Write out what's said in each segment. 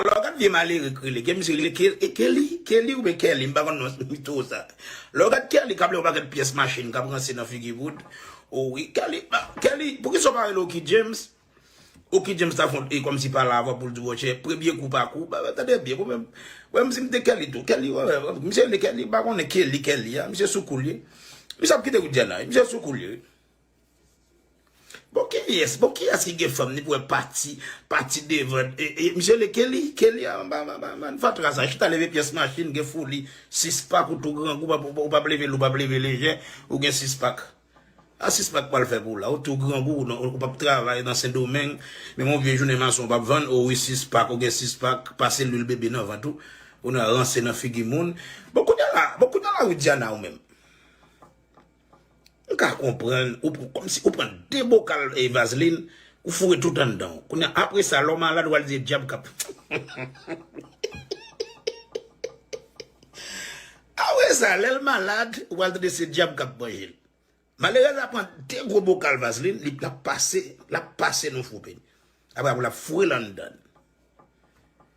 Lò gad vye malere k rele, gen misye rele Keli, Kelly oubyen Kelly m pa konn non se li two sa. Lò gad Kelly kap lè yon pakèt pyès machin kap ranse nan figi Wood, o wi Kelly, Kelly poukisa w pa rele Oky James, Oky James ta fon e kòmsi pala avan poul di wòchè premye kou pa kou, ba tande byen pou mwen m si m te Kelly tou, Kelly wè wè, misye rele Kelly m pa konnen Kelly, Kelly a, misye sou kou l ye. Misye ap kite Widiana wi, misye sou kou l ye wi. Bon kiyes bon kiyes ki gen fanm ni pou wè pati pati devan e misye le Kelly Kelly a anba bann fatra sa chita leve pyès machin gen foli 6 pak ou tou grangou ou pap leve lou pap leve lejè ou gen 6 pak sa 6 pak pral fè pou w la ou tou grangou ou pap travay nan sendomeng menm yon vye jounen mason ou pap vann o wi 6 pak ou gen 6 pak pase lwil bebe nan vant ou ou nan ranse nan figi moun bon kounye la bon kounye la widiana ou menm. M ka konprann ou pran kòmsi ou pran 2 bokal e vazlin ou foure tout anndan w kounye a apre sa lè w malad wal di e dyab kap apre sa lèl malad ou pral tande se dyab kap manjel malerèz la pran 2 gwo bokal vazlin li lap pase lap pase nou foupe apre apre lap fourel anndan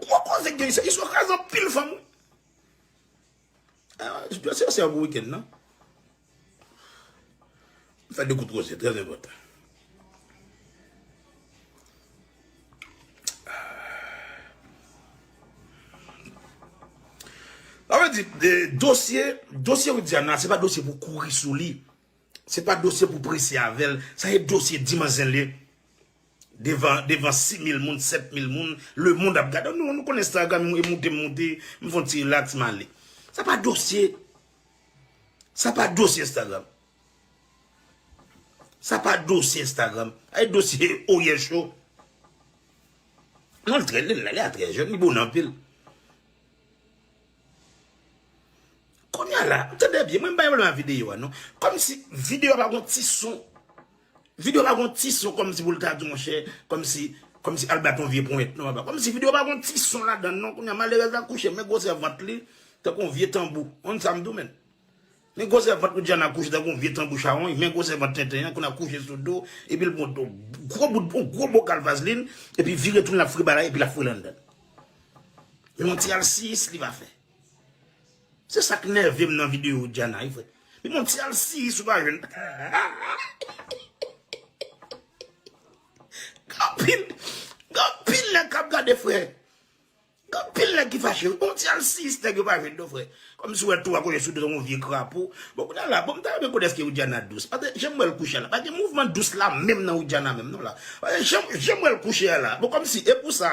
Gwo koze ki gen isit. Izo kraze anpil fanm wi. Jodi se yon bon weekend nan. M fè 2 kout koze trè enpòtan. Sa vle di dosye, dosye Widiana se pa dosye pou kouri sou li. Se pa dosye pou prese avèl, sa e dosye di manzè le devan devan 6000 moun 7000 moun le mond ap gade nou nou konn Instagram e moute m moute m fon ti relax male. Sa pa dosye sa pa dosye Instagram sa pa dosye Instagram sa e dosye oryè cho non l trè li la li a trè jèn li bon anpil Kounya la, tande byen, mwen m pa gen pwoblèm ak videyo a non. Kòmsi videyo a pa gon ti son. Videyo a pa gon ti son kòmsi pou l ta di monchè, kòmsi, kòmsi al bat yon vye ponyèt non papa. Kòmsi videyo a pa gon ti son ladan l non. Kounya malerèz la kouche men gwosè vant li tankou yon vye tanbou. Konn sa m di w menn? Men gwosè vant Widiana kouche tankou yon vye tanbou chawony men gwosè vant tenten an konn ap kouche sou do epi l pran gwo bout yon gwo bokal vazlin epi vire tou l ap fri bagay epi l ap foure l anndan l men yon ti alsiyis li pa fè se sa k nève m nan videyo Widiana wi frè men yon ti alsiyis ou pa jwenn anpil anpil nèg k ap gade frè Gen anpil nèg ki fache wi. Bon ti alsiyis nèg yo pa jwenn non frè. Kòmsi ou wè 3 kole sou do yon vye krapo. Bon kounya la, bon m ta renmen konnen èske Widiana dous. Paske jan m wè l kouche a la, pa gen mouvman dous la menm nan Widiana menm non la. Paske jan jan m wè l kouche a la, bon kòmsi e pou sa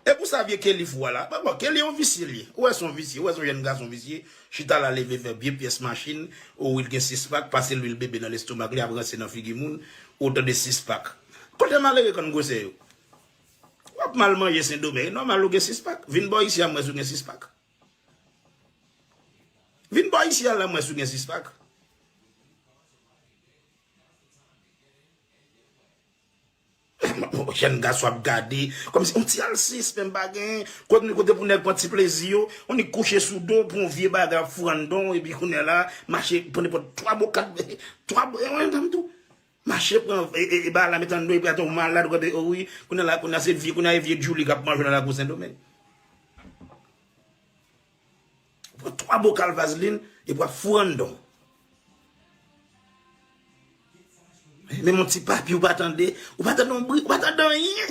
e pou sa vye Kelly fou a la. Bon bon Kelly yon visye l ye. Ou wè s on visye, ou wè s on jèn gason visye, chita la leve fè vye pyès machin, o wi l gen 6 pak, pase lwil bebe nan lestomak li ap ranse nan figi moun, o tande 6 pak. Kote malere konn gwosè yo? Wap mal manje sendomeng e nòmal ou gen 6 pak vin bò isi a m wè si w gen 6 pak vin bò isi a la m wè si w gen 6 pak. Jèn gason ap gade kòm si yon ti alsis menm pa gen kote pou nèg pran ti plezi yo on nèk kouche sou do pou yon vye bagay ap fou andan w epi kounye la mache pran nenpòt 3 bo 4 bo 3 bo e yon dam tou. Mache pran bala met andeyo epi ate w malad wap gade wi kounya la kounya se vye kounya e vye djouly kap manje nan lakou sendomeng ou pran 3 bokal vazlin epi wap fou random menm yon ti papi ou pa tande ou pa tande yon bri ou pa tande anyen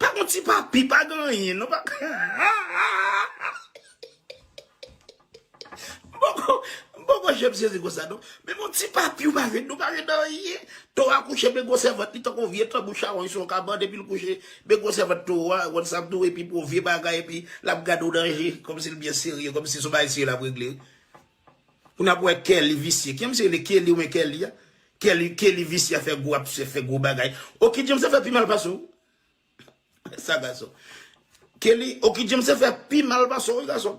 Pa gon ti papi, pa gen anyen non. M poko janm sezi konsa non. Men gon ti papi ou pa ret non, pa ret anyen. Towo a kouche men gwosè vant li tankou yon vye tanbou chawony sou yon kabann epi l kouche. Men gwosè vant towo a, ou konn sa m di w, epi pou yon vye bagay epi l ap gade w nan je kòmsi l byen serye, kòmsi se yon bagay serye l ap regle wi. Pou nap wè Kelly visye. Ki misye rele Kelly oubyen Kelly a? Kelly Kelly visye ap fè gwo ap fè gwo bagay. Oky James ap fè pi mal pase w. Sa gason. Kelly Oky James ap fè pi mal pase w wi gason.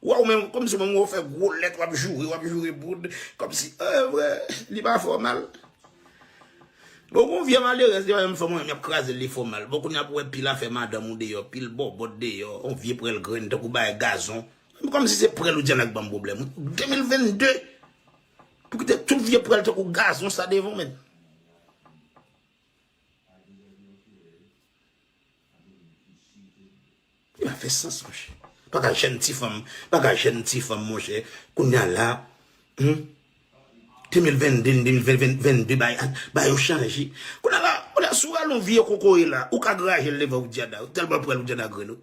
Wè w menm kòmsi w menm wè w fè gwo lèt wap joure wap joure boud kòmsi eh vre li pa fè w mal. Bon gon vye malerèz li pa janm fè moun anyen yap kraze l li fè w mal. Bon kounya pou wè pil afè madanm ou deyò pil bòbòt deyò on vye prèl grenn tankou bagay gazon. Menm kòmsi se prèl ou di a la k banm pwoblèm wi. 2022 Pou kite tout vye prèl tankou gazon sa devan menn. Li pa fè sans monchè. Paka jèn ti fanm, paka jèn ti fanm monchè kounya la hum 2022 2022 bay a bay yo chanje. Kounya la kounya si w rale yon vye kokoye la ou ka grajel devan Widiana wi tèlman prèl Widiana grenn wi.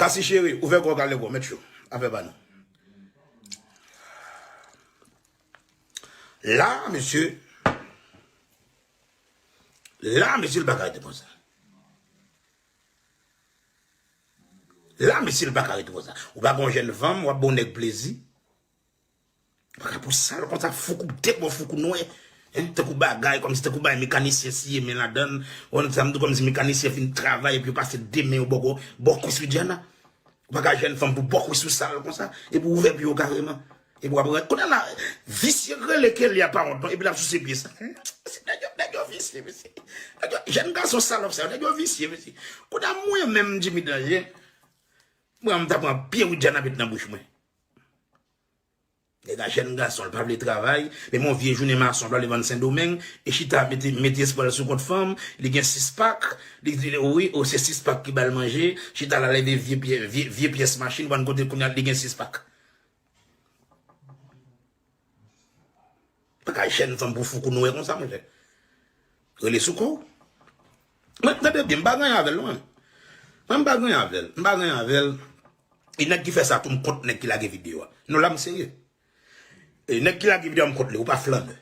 Kasi cheri, ouvè kò w kale wè w mèt chou. Afè pa nou. La mesye, la mesye l pa ka rete konsa. La mesye l pa ka rete konsa. Ou pa gon jèn fanm, w ap ba w nèg plezi. Pa ka pou sal konsa foukou bte bon foukou nwe hein tankou bagay komsi tankou bagay mekanisyen siye men ladann ou wè sam di komsi mekanisyen fin travay epi yo pase 2 men yo bò kò bò kwis ou dyanna ou pa ka jèn fanm pou bò kwis ou sal konsa epi ou ouvè pye ou kareman epi wap rale kounye la visye k rele Kelya pa wont non epi lap souse pye sa humm mesye nèg yo nèg yo visye mesye nèg yo jèn gason salòp sa yo nèg yo visye mesye kounye a mwen menm Djimi danje m pran m ta pran pye Widiana met nan bouch mwen. Nèg la jèn gason, li pa vle travay, menm yon vye jounen mason li pa vle vann sendomeng, li chita mete espwa l sou kont fanm, li gen 6 pak, li di wi o se 6 pak ki bal manje, chita la leve vye pyès machin, vann kote kounya li gen 6 pak. Bagay jèn fanm pou foukou nwè konsa monchè. Rele sou kòw. Mwen tande byen, m pa ganyan avèl non mwen. Mwen m pa ganyan avèl. M pa ganyan avèl. E nèg ki fè sa tou m kont nèg ki lage video a. Non la m serye. E nèg ki lage video a m kont li. Ou pa flannè.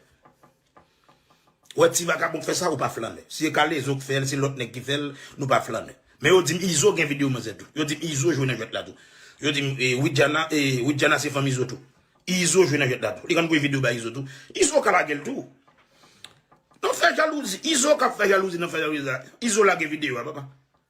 Ou wè ti vagabon k fè sa ou pa flannè. Si e kalezo k fè l, si lòt nèg ki fè l, nou pa flannè. Men yo di m Izo gen videyo manzè tou. Yo di m Izo jwe nan jwèt la tou. Yo di m Widiana e Widiana se fanm Izo tou. Izo jwe nan jwèt la tou. Li konn voye videyo bay Izo tou. Izo ka lage l tou. Nan fè jalouzi. Izo k ap fè jalouzi nan fè jalouzi la. Izo lage videyo a papa.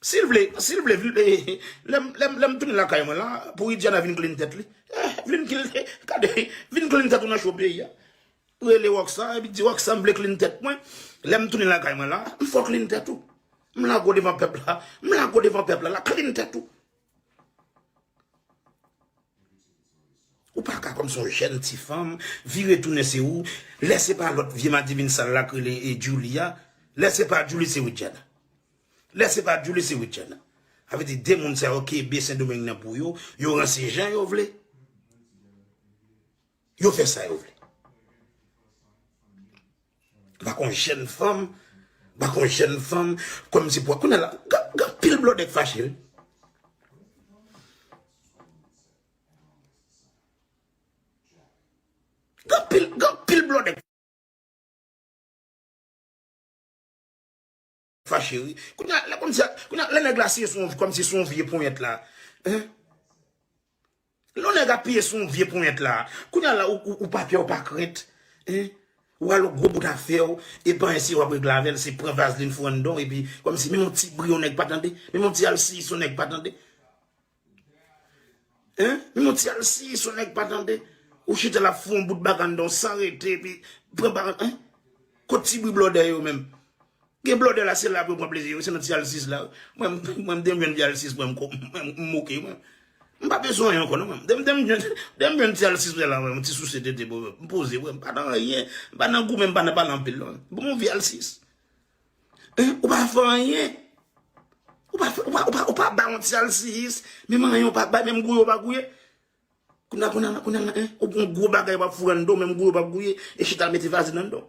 Sil vle, sil vle vle lè m tounin lakay mwen la pou Widiana vin klin tèt li. Vin klin gade, vin klin tèt ou nan cho peyi a. Rele Rocksa epi di Rocksa m vle klin tèt mwen. Lè m tounin lakay mwen la, m fè w klin tèt ou. M lage w devan pèp la, m lage w devan pèp la la klin tèt ou. Ou pa ka kòm se yon jèn ti fanm vire tounen se ou, lè se pa lòt vye madivin sal la k rele Djoulie a, lè se pa Djoulie se Widiana. Lè se pa Julie se Rutshelle. Sa vle di 2 moun sa yo kenbe sendomeng nan pou yo, yo ranse jan yo vle, yo fè sa yo vle. Mpa konn jèn fanm, mpa konn jèn fanm, kòm si pou, kounye la, gen anpil blòdè k fache wi. Gen anpil, gen anpil blòdè k. Fache wi. Kounya lè kòm si a, kounya lè nèg la siye sou yon, kòm si sou yon vye ponyèt la. Hein? Lè yon nèg apiye sou yon vye ponyèt la, kounya la ou pa pè ou pa krent. Hein? Ou al yon gwo bout afè ou, e panyen si w'ap regle avè l', se pran vazlin fourann dan w' epi kòm si menm yon ti bri yon nèg pa tande, menm yon ti al siy si yon nèg pa tande. Hein? Yon ti alsiyis yon nèg pa tande. Ou chita la fou yon bout bagann dan w san rete epi pran paran hein? Kot ti bri blòdè yo menm? Gen blòdè la se la pou yo pran plezi yo, se nan ti alsiyis la. Mwen m mwen m te jwenn ti alsiyis mwen m ko mwen m moke mwen. M pa bezwen anyen ankò non mwen. Dèm dèm jwenn dèm jwenn ti alsiyis mwen la mwen m ti souse tete pou m poze mwen m pa nan anyen. M pa nan goumen m pa nan pale anpil non. Bon vye alsiyis. Ou pa fè anyen. Ou pa bay yon ti alsiyis. Menm anyen ou pa bay. Menm gouye ou pa gouye. Kounya kounya la kounya la hein. Ou gen yon gwo bagay wap foure nan do menm gouye ou pa gouye. E chita al mete vazlin nan do.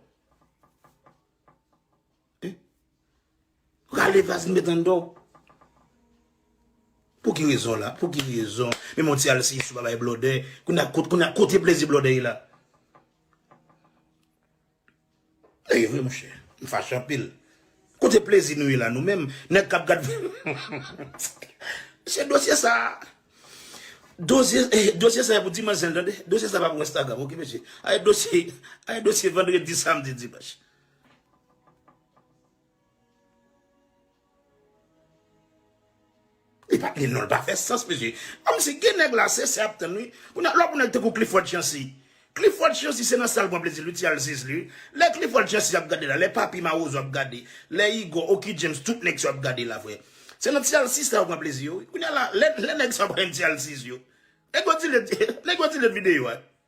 Rale vazlin mete nan do. Pou ki rezon la. Pou ki rezon. Menm yon ti alsiyis ou pa bay blòdè. Kounya kote plezi blòdè ye la. Ey vre monchè m fache anpil. Kote plezi nou ye la nou menm nèg kap gad mesye dosye sa dosye sa pou dimanch sèl tande dosye sa pa pou instagram ok mesye ae dosye ae dosye vendredi samedi dimanche. Li pat li non pa fè sans mesye. Kom si ki nèg la se se ap tann wi. Kounye a lò pou nèg tankou Clifford Chancy. Clifford Chancy se nan sal pran plezi li ti al sezi wi. Lè Clifford Chancy ap gade la, lè Papi Mawozo ap gade, lè Igor, Oky James tout nèg sa yo ap gade la frè. Se nan ti al sezi sa yo pran plezi yo wi. Kounye a la lè nèg sa yo pran ti al sezi yo. Nèg yo delete, nèg yo delete video a.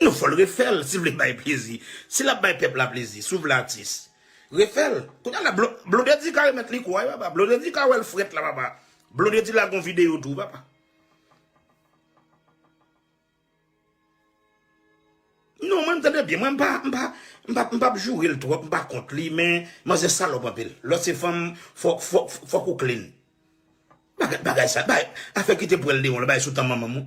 Non fòl refèl si vle bay plezi si lap bay pèp la plezi si w vle atis refèl kounya la blondedy ka remèt li kou a wi papa blondedy ka wèl frèt la papa blondedy lage yon video tou papa non mwen tande byen mwen mpa mpa mpa mpap jourel twòp mpa kont li men manzè salòp anpil lò se fanm fòk fòk fòk ou klin bagay sa bay afè kite pwèl deyon la bay sou tan manmanm ou.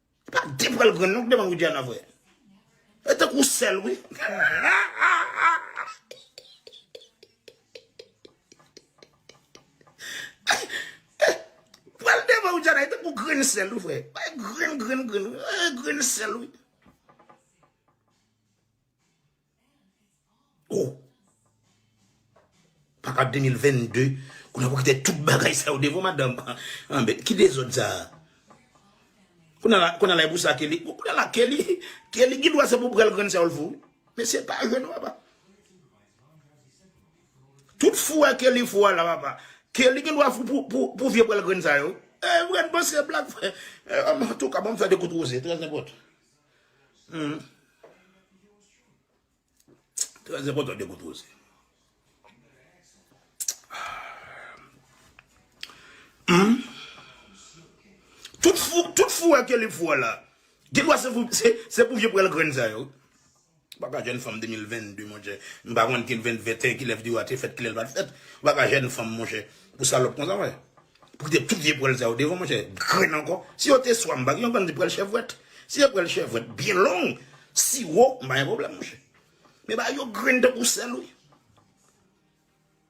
Pa de pral grann non k devan Widiana vre. E tankou w sèl wi. Pral devan Widiana e tankou grenn sèl wi frè. E grenn grenn grenn wi. E grenn sèl wi. Oh. Papa 2022, kounye pou kite tout bagay sa yo devan madanm. An bèt, ki dezòd sa a? Kounye la, kounye la e pou sa Kelly. Kounye la Kelly, Kelly gen dwa se pou pral grann sè ou l fou. Men se pa jèn papa. Tout fou a Kelly fou a la papa. Kelly gen dwa fou pou vye pral grann sa yo. E vre, n panse blag fè. An tou ka, banm fè de kout wouze, trèz nenpòt. Trè enpòtan de kout woze. Tout fou, tout fou wè ke li fou wè la. Gen dwa se pou vye pwèl grenn sa yo. Ou pa ka jèn fanm 2022 monchè. M pa konn ki 2021 kilè video a te fèt kilè l pat fèt. Ou pa ka jèn fanm monchè. Pou salòp konsa wè. Pou kite tout vye pwèl sa yo devan monchè. Grenn ankò. Si yo te swa m pa gen yon bandi pwèl chèvwèt. Si e pwèl chèvwèt byen long, siwo, m pa gen pwoblèm monchè. Men bagay yo grenn tankou sèl wi.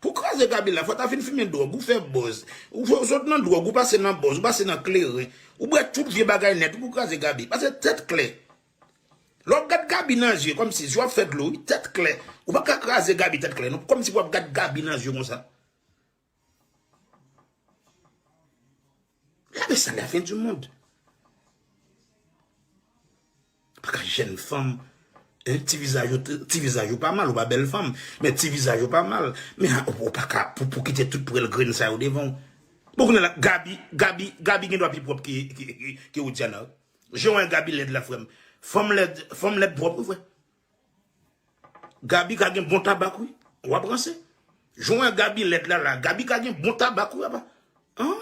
Pou kraze Gaby la fò ta fin fimen dròg, ou fè bòz, ou sot nan dròg ou pase nan bòz, ou pase nan kleren, ou bwè tout vye bagay nèt ou pou kraze Gaby. Pase tèt klè. Lè wap gad Gaby nan zye kòmsi zye w ap fè dlo wi, tèt klè. Ou pa ka kraze Gaby tèt klè non, kòmsi pou wap gad Gaby nan zye konsa. Gade sa la fin du monde. Paka jèn fanm hein ti vizaj ou ti vizaj ou pa mal ou pa bèl fanm men ti vizaj ou pa mal men ou paka pou kite tout pwèl grenn sa yo devan ou bon kounye la Gaby Gaby Gaby gendwa pi pwòp ke ke Widiana wi jan wè Gaby lèd la frè m fanm lèd fanm lèd pwòp wi frè. Gaby ka gen bon tabak wi. Wap ranse. Jan w wè Gaby lèd la la. Gaby ka gen bon tabak wi apa. An.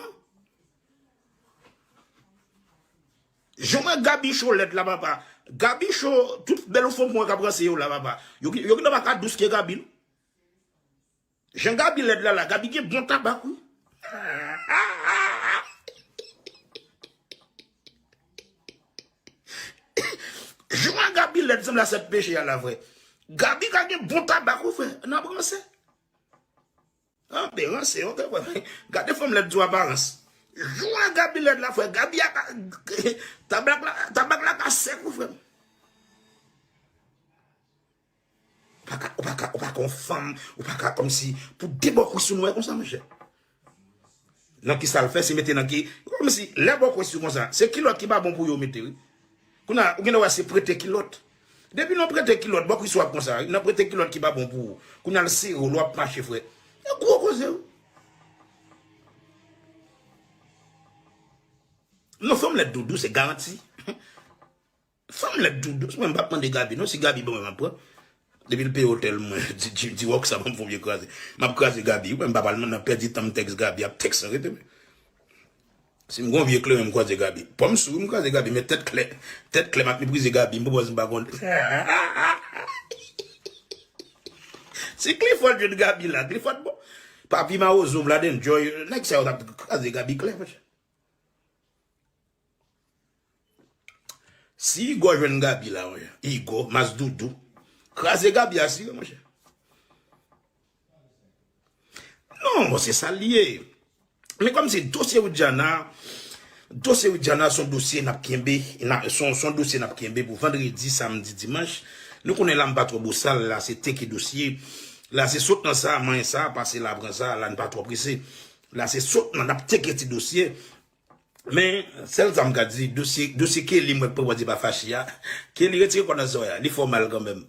Jan w wè Gaby cho lèd la papa. Gaby cho tout bèl fanm mwen kap ranse yo la papa. Yo gentan pa ka dous ke Gaby non. Jan Gaby lèd la la Gaby gen bon tabak wi. Jan Gaby lèd sanble a sèt peche a la vre. Gaby ka gen bon tabak wi frè nap ranse. An be ranse ok frè men gade fanm lèd sou aparans. Jan Gaby lèd la frè Gaby a ka tabak la ka sèk wi frè. Ou pa ka, ou pa ka yon fanm, ou pa ka kòmsi pou de bò kwis ou nwè konsa monchè. Nan ki sa l fè se mete nan ki, kòmsi lè bò kwis ou konsa, se kilòt ki pa bon pou yo mete wi. Kounye a, ou gen dwa wè se prete kilòt. Depi nan prete kilòt, bò kwis ou ap konsa wi, nan prete kilòt ki pa bon pou ou. Kounye a l sere w, lè w ap mache frè. Se gwo koze wi. Non fanm lèd doudou se garanti. Fanm lèd tou dous mwen m pap mande Gaby non si Gaby ban mwen map pran depil peye hotel mwen di Rocksa banm fon vye kraze map kraze Gaby wi m pap al nan pèdi tanm tèks Gaby ap tèks san rete menm sim gon vye kleren m kwaze Gaby pòm sou wi m kraze Gaby men tèt klè tèt klè map meprize Gaby m pou bòz m pa konn hihihihihi si Clifford jwenn Gaby la Clifford bon papi mawozo vlad enjoy nèg sa yo tap kraze Gaby klè monchè. Si Igor jwenn Gaby la monchè Igor mas doudou kraze Gaby asire monchè non bon se sa li ye men kòm se dosye Widiana dosye Widiana son dosye nap kenbe son dosye nap kenbe pou vendredi samdi dimanch nou konnen la m pa twò bosal la se teke dosye la se sot nan sa manyen sa pase la pran sa la n pa twò prese. La se sot nan nap tyeke ti dosye men sel sa m ka di dosye Kelly mwen pa wè di pa fache a Kelly retire kò nan zòrèy la li fè w mal kanmenm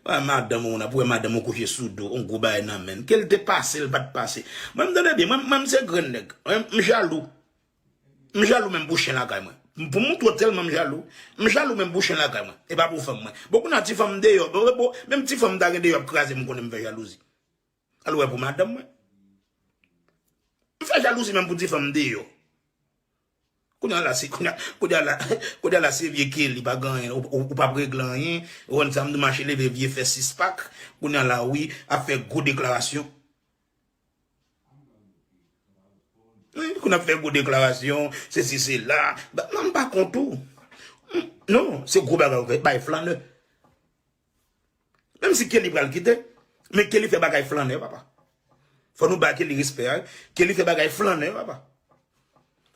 wè madanm ou nap wè madanm ou kouche sou do on gwo bagay nan menn kel te pase l pat pase mwen m tande byen mwen m se grenn nèg m jalou m jalou menm pou chen lakay mwen pou moun twò tèlman m jalou m jalou menm pou chen lakay mwen e pa pou fanm mwen bon kou na ti fanm deyò menm ti fanm ta gen deyò ap kraze m konnen m fè jalouzi. Al wè pou madanm mwen. M fè jalouzi menm pou ti fanm deyò. Kounya la se kounya kounya la kounya la se vye Kelly pa gen anyen ou pap regle anyen ou konn sa m di mache leve vye fè sis pak kounya la wi ap fè gwo deklarasyon kounya ap fè gwo deklarasyon se si se la non m pa kont ou non se gwo bagay ou fè bay flanè. Menm si Kelly pral kite, men Kelly fè bagay flannè papa. Fò nou bay Kelly respè a wi. Kelly fè bagay flannè papa.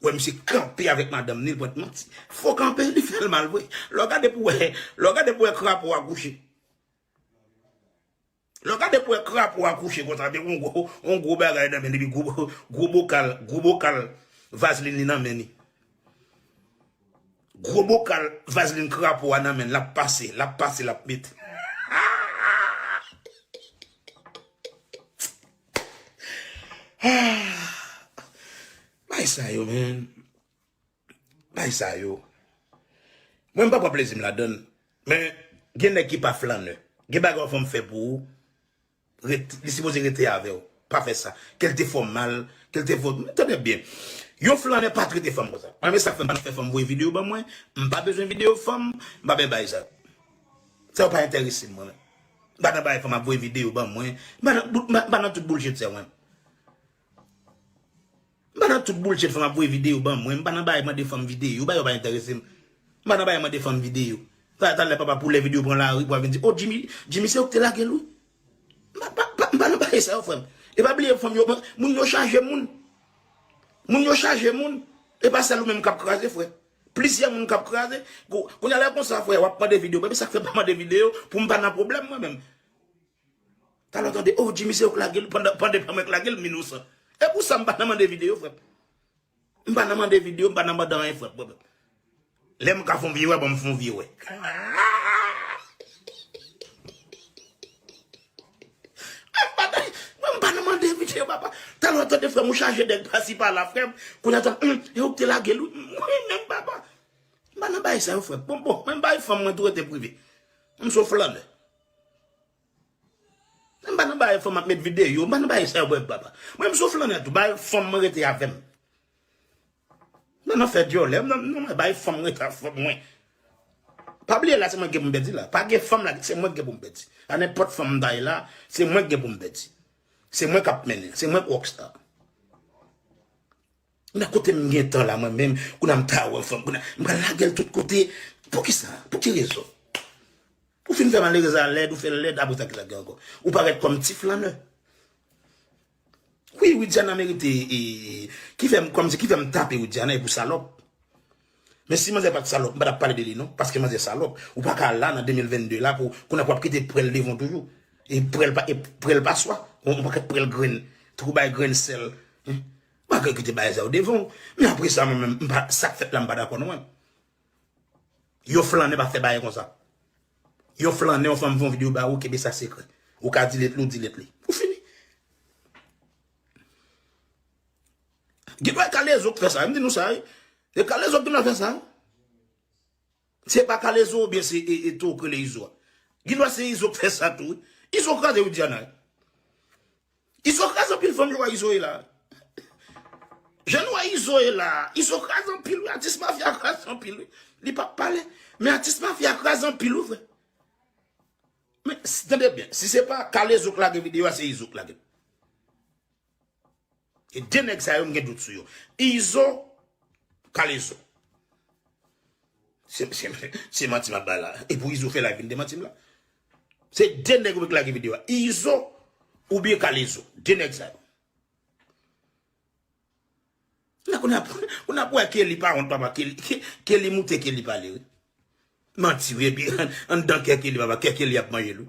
Wè misye kanpe avèk madanm ni l pwent manti. Fo kanpe li fè l mal vre. Lè w gade pou wè, lè w gade pou wè krapo a kouche. Lè w gade pou wè krapo a kouche konsa avèk yon gwo, yon gwo bagay nan men li epi gwo, gwo bokal, gwo bokal vazlin li nan men li. Gro bokal vazlin krapo a nan menl lap pase lap pase lap met Bagay sa yo menn Bagay sa yo Mwen mpa pran plezim ladann men gen nèg ki pa flannè gen bagay ou fèm fè pou ou Li sipoze rete avèw pa fè sa kel te fèw mal kel te fèw tande byen yon flannè pa trete fanm konsa mwen renmen sak fèm pa fè fanm voye video ban mwen m pa bezwen video fanm m pa bè bay sa sa yo pa entèresem mwen menm m pa nan bagay fanm ap voye video ban mwen m pa nan tout boulshit sa yo mwen menm. M pa nan tout boulchet fanm ap voye videyo ban mwen. M pa nan bagay mande fanm videyo. Bagay yo pa enterese m. M pa nan bagay mande fanm videyo. Sa a talè papa poulè videyo pran lari pou al vin di, O Jimmy, Jimmy se ou ki te lage l wi. M pa, pa, pa, m pa nan bagay sa yo frè m. E pa bliye fanm yo, moun yo chaje moun. Moun yo chaje moun. E pa sèl ou menm k ap kraze frè. Plizyè moun k ap kraze. Kounye a lè konsa frè, w ap mande videyo ban m. E sa k fè m pa mande videyo pou m pa nan pwoblèm mwen menm. Talè w tande oh Jimmy se ou k lage l pandan pandan pa mwen k lage l m inosan. E pou sa m pa nan mande videyo frè m. M pa nan mande videyo, m pa nan mande anyen frè m. Lè m ka fon vye wè ban m fon vye wè. Mwen m pa nan mande videyo papa. Talè w tande frè m ou chaje nèg pasi pala frè m. Kounye a tande humm e ou k te lage l wi. Mwen menm papa. M pa nan bagay sa yo frè m. Bon bon mwen m pa yon fanm mwen tou rete prive. M s on flannè. Mwen pa nan bay fanm ap met videyo, mwen pa nan bay sa yo bwè papa. Mwen m sou flannè tou, bay fanm mwen rete avè m. Mwen pa nan fè dyòlè, non mwen bay fanm mwen rete avè fanm mwen. Pa bliye la se mwen ki gen pou m pèdi la, pa gen fanm la, se mwen ki gen pou m pèdi. A nenpòt fanm m ta ye la, se mwen ki gen pou m pèdi. Se mwen k ap mennen, se mwen k rockstar. Nan kote m gen tan la mwen menm kou nan m ta wè yon fanm kou nan m pral lage l tout kote poukisa pou ki rezon ou fin fè malerez la lèd ou fè l lèd apre sa kisa k gen ankò ou parèt kòm ti flanè wi widiana merite ki fè m kòm se ki fè m tape widiana e pou salòp men si manzè pat salòp m pa tap pale de li non paske manzè salòp ou pa ka la nan 2022 la pou kou nan pou ap kite prèl devan w toujou e prèl pa e prèl pa swa yon pakèt prèl grenn trou bay grenn sèl. Malgre ke te bay zè yo devan. Men apre sa mwen menm mpa sak fèt la mpa dakò non mwen. Yon flannen pa fè bagay konsa. Yon flannen yon fanm fè yon video ba ou kenbe sa sekrè. Ou ka delete li ou delete li. Ou fini. Gen dwa kalezo k fè sa. M di nou sa wi. E kalezo k gen dwa fè sa. Se pa kalezo ou byen se eto ou k rele izo a. Gen dwa se izo k fè sa tou. Izo kraze widiana. Izo kraz anpil fanm yo wè izo ye la. Jan nou wè izo ye la. Izo kraz anpil wi atis mafya kraz anpil wi. Li pap pale. Men atis mafya kraz anpil wi vre. Men tande byen. Si se pa kalezo k lage video a se izo k lagel. E de nèg sa yo m gen dout sou yo. Izo, kalezo. Se manti map bay la. E pou izo fè live vin demantim la. Se 2 nèg ou vle k lage video a izo ou byen kalezo 2 nèg sa yo. La kounye a ou nap wè Kelly pa wont papa Kelly Kelly moute Kelly pale wi manti wi epi anndan kè Kelly papa kè Kelly ap manjel wi.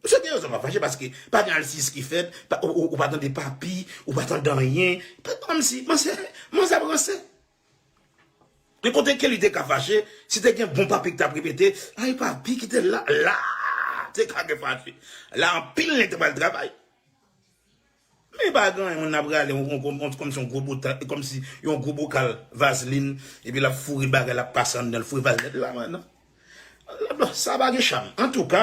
Ou se gen rezon wap fache paske pa gen alsiyis ki fèt, ou pa tande papi, ou pa tande anyen. Pè pa manm si, manm se, manm se ap ranse. Gen kote ke li te ka fache, si te gen bon papi ki tap repete, ay papi ki te la, la te ka gen fache. La anpil nèg te pral travay. Men pa gen anyen moun ap rale yon kòmsi yon gwo bota kòmsi yon gwo bokal vazlin epi lap foure bagay lap pase anndanl foure vazlin la mwen nan sa pa gen cham antouka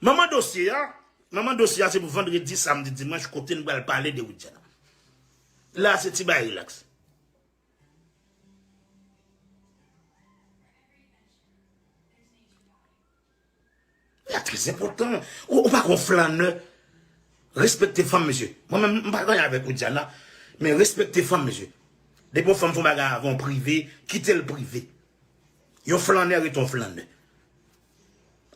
manman dosye a manman dosye a se pou vandredi samdi dimanch kote nou pral pale de widiana la se ti bagay relax. Sa trè enpòtan. Ou pa kon flannè. Respekte fanm mesye. Mwen menm m pa gen anyen avèk ou Diana, men respekte fanm mesye. Depi yon fanm fè yon bagay avè w prive, kite l prive. Yon flannè rete yon flannè.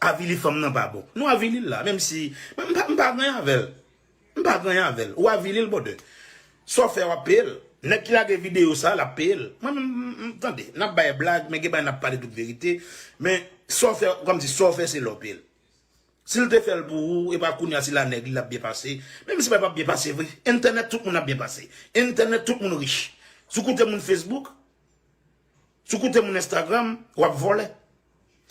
Avili fanm nan pa bon. Nou avili l la, menm si m pa gen anyen avè l. M pa griyen avèl. Ou avili l bwodè. Sa w fè a w ap peye l. Nèg ki lage videyo sa a l ap peye l. Mwen menm m tande. N ap bay blag men gen bagay n ap pale tout verite. Men sa w fè kòm di sa w fè se lè w peye l. Si l te fè l pou ou e pa kounye a se la nèg li l ap byen pase. Menm si bagay pa ap byen pase vre. Entènèt tout moun ap byen pase. Entènèt tout moun rich. Si w koute moun Facebook. Si w koute moun Instagram, w ap vòlè.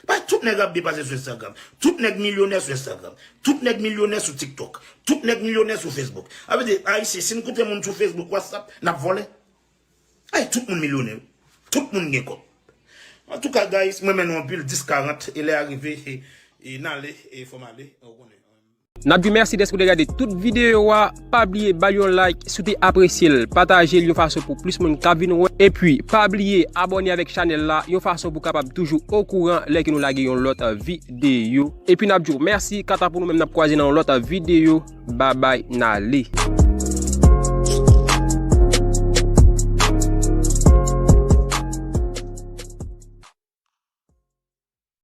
Paske tout nèg ap depanse sou Instagram. Tout nèg milyonè sou Instagram. Tout nèg milyonè sou TikTok. Tout nèg milyonè sou Facebook. Sa vle di, Ayisyen, si n koute moun sou Facebook, WhatsApp, n ap vòlè. Paske tout moun milyonè. Tout moun gen kòb. Antouka guys, m renmen nou anpil. 10:40, e lè a rive, e n ale, e fò m ale. Nap diw mèsi dèske ou te gade tout videyo a, pa bliye bal yon like si w te apresye l, pataje l yon fason pou plis moun ka vin wè, epi pa bliye abòne avèk chanèl la yon fason pou kapab toujou okouran lè ke nou lage yon lòt videyo, epi nap diw mèsi kanta pou nou menm nap kwaze nan yon lòt videyo babay nale.